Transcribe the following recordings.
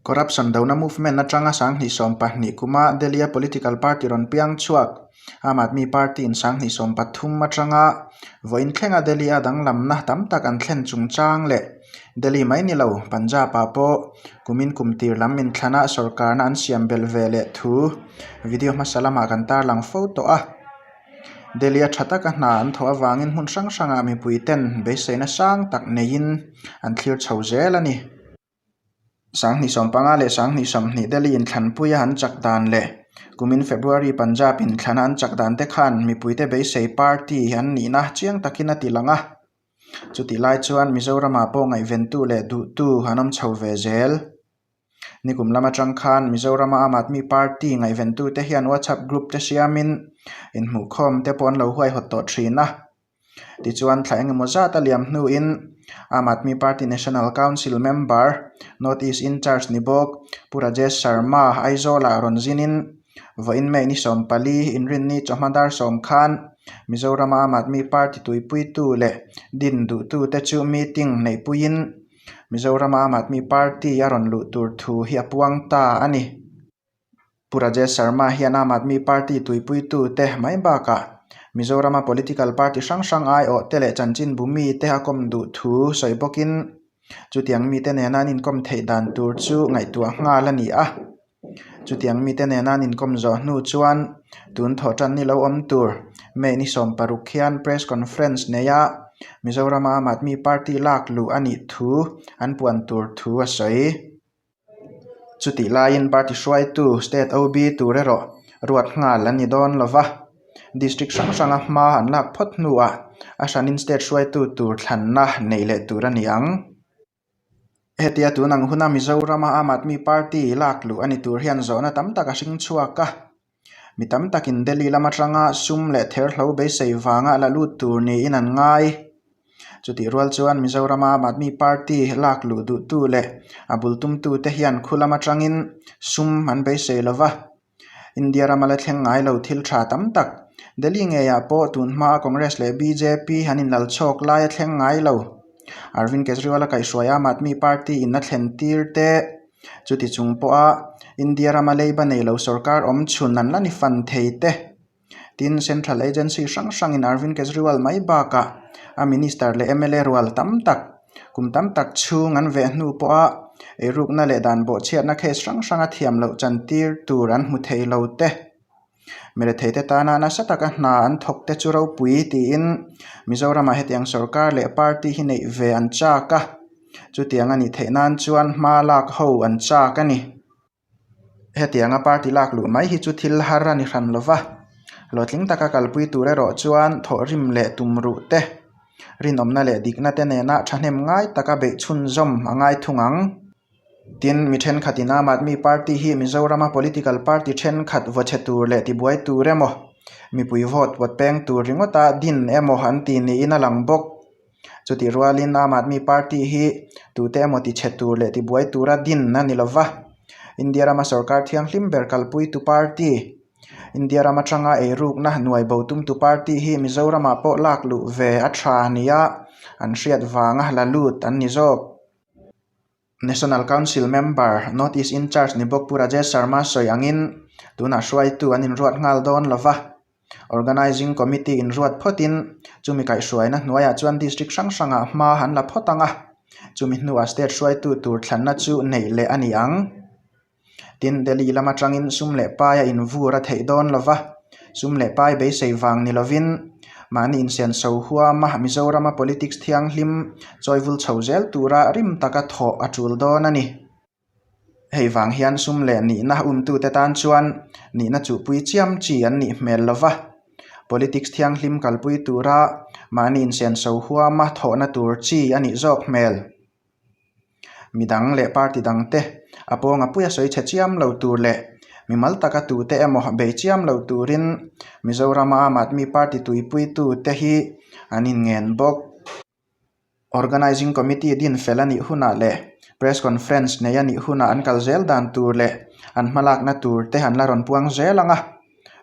Corruption dona movement atanga sanghnih sawm pahnih kuma Delhi-a political party rawn piang chhuak Aam Aadmi Party-in sanghnih sawm pathum atanga vawiin thlenga Delhi-a danglamna tam tak an thlen chungchang leh Delhi mai ni lo Punjab-ah pawh kumin kum tir lam min thlana sawrkarna an siam belh ve leh thu video hmasa lamah kan tarlang fo tawh a. Delhi-a tha taka hna an thawh avangin hmun hrang hranga mipuiten beiseina sang tak neiin an thlir chho zel a ni. Sang hnisawm panga leh sang hnisawm hnih Delhi-in thlanpuia an chak dan leh kumin February Punjab-in thlana an chak dan te khan mipuite beisei party an nihna chiang takin a tilang a. Chutihlai chuan Mizoram-ah pawh ngaihventu leh duhtu an awm chho ve zel. Nikum lam atang khan Mizoram Aam Aadmi Party ngaihventu te hian WhatsApp group te siamin inhmuhkhawm te pawh an lo huaihawt tawh thin a. Tichuan thlai eng emaw zat a liam hnuin Aam Aadmi Party National Council member, North East Incharge ni bawk Pu Rajesh Sharma Aizawlah rawn zinin vawiin May ni sawm pali inrinni chawhma dar sawm khan Mizoram Aam Aadmi Party tuipuitu leh din duhtu te chu meeting neihpuiin Mizoram Aam Admi Party a rawn luh tur thu hi a puang ta a ni. Pu Rajesh Sharma hian Aam Admi Party tuipui-tute mai bakah Mizorama political party hrang hrang aiawhte leh chanchinbu mite a kawm duh thu sawi bawkin chutiang mite nena an inkawm theih dan tur chu ngaihtuah nghal a ni a. Chutiang mite nena an inkawm zawh hnu chuan tun thawh tan ni lo awm tur May ni sawm paruk hian Press Conference nei a Mizoram a Aam Aadmi Party lak luh a nih thu an puan tur thu a sawi. Chutih laiin party hruaitu State OB tur erawh ruat nghal an ni dawn lo va, District hrang hranga hma an lak phawt hnuah a hranin State hruaitu tur thlanna neih leh tur a ni ang. Hetia tun ang huna Mizorama Aam Aadmi Party lak luh a ni tur hian zawhna tam tak a hring chhuak a. Mi tam takin Delhi lam atanga sum leh ther hlo beisei vanga la lut tur niin an ngai. Chutih rual chuan Mizorama Aam Aadmi Party lak luh duhtu leh a bul tumtute hian khulam atangin sum an beisei lo va. India rama la thleng ngai lo thil tha tam tak, Delhi ngeiah pawh tun hmaa Congress leh bjp an inlal chhawk lai a thleng ngai lo. Arvind Kejriwal a kaihhruai a Aam Aadmi Party in a thlen tir teh. Chuti chung pawha India rama leiba nei lo sorkar awm chhun an la ni fan thei teh. Tin, Central Agency hrang hrangin Arvind Kejriwal mai bakah a Minister leh mla rual tam tak, kum tam tak chhung an veh hnu pawha eirukna leh dan bawhchhiatna case hrang hranga thiam loh chantir tur an hmu thei lo te, mi retheite tana nasa taka hna an thawkte chu ropui tiin Mizoramah hetiang sorkar leh party hi neih ve an chak a, chutiang a nih theih nan chuan hma lak ho an chak a ni. Hetianga party lak luh mai hi chu thil har a ni hran lo va, hlawhtling taka kalpui tur erawh chuan thawhrim leh tumruh te, rinawmna leh dikna te nena thahnem ngai taka beih chhunzawm a ngai thung ang. Tin, mi thenkhatin Aam Aadmi Party hi Mizorama political party thenkhat vawchhe tur leh tibuai tur emaw, mipui vote vawt peng tur ringawta din emaw an tih niin a lang bawk. Chutih rualin Aam Aadmi Party hi tute emaw tichhe tur leh tibuai tura din a ni lova, India rama sorkar thianghlim ber kalpuitu party, India ram atanga eirukna hnuai bo tumtu party hi Mizoramah pawh lak luh ve a tha nia an hriat vanga la lut an ni zawk. National Council Member, North East Incharge Nibawkpu Rajesh Sharma sawi angin, tunah hruaitu an inruat nghal dawn lo va, Organising Committee inruat phawtin chumi kaihhruaina hnuaiah chuan District hrang hrangah hma an la phawt ang a, chumi hnua State hruaitu tur thlanna chu neih leh a ni ang. Tin, Delhi lam atangin sum leh pai a invur a theih dawn lo va, sum leh pai beisei vang ni lovin mahni insian chho huam a, Mizorama politics thianghlim chawivul chho zel tura rim taka thawh a tul dawn a ni. Hei vang hian sum leh nihna umtute tan chuan nihna chuhpui chiam chi an nih hmel lo va, politics thianghlim kalpui tura mahni insian chho huam a thawhna tur chi a nih zawk hmel. mi dang leh party dang te a pawng a puia sawi chhe chiam lo tur leh mi mal tak a tu te emaw bei chiam lo turin Mizoram a aam aadmi party tuipui tu te hi an in ngen bawk. Organising committee din fel a nih hunah leh press conference nei a nih hunah an kal zel dan tur leh an hmalakna tur te an la rawn puang zel ang a.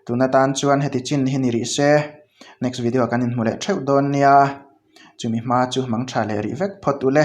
tuna tan chuan heti chin hi ni rih se next video ah kan inhmu leh theuh dawn nia chumi hma chu mangtha leh rih vek phawt ule.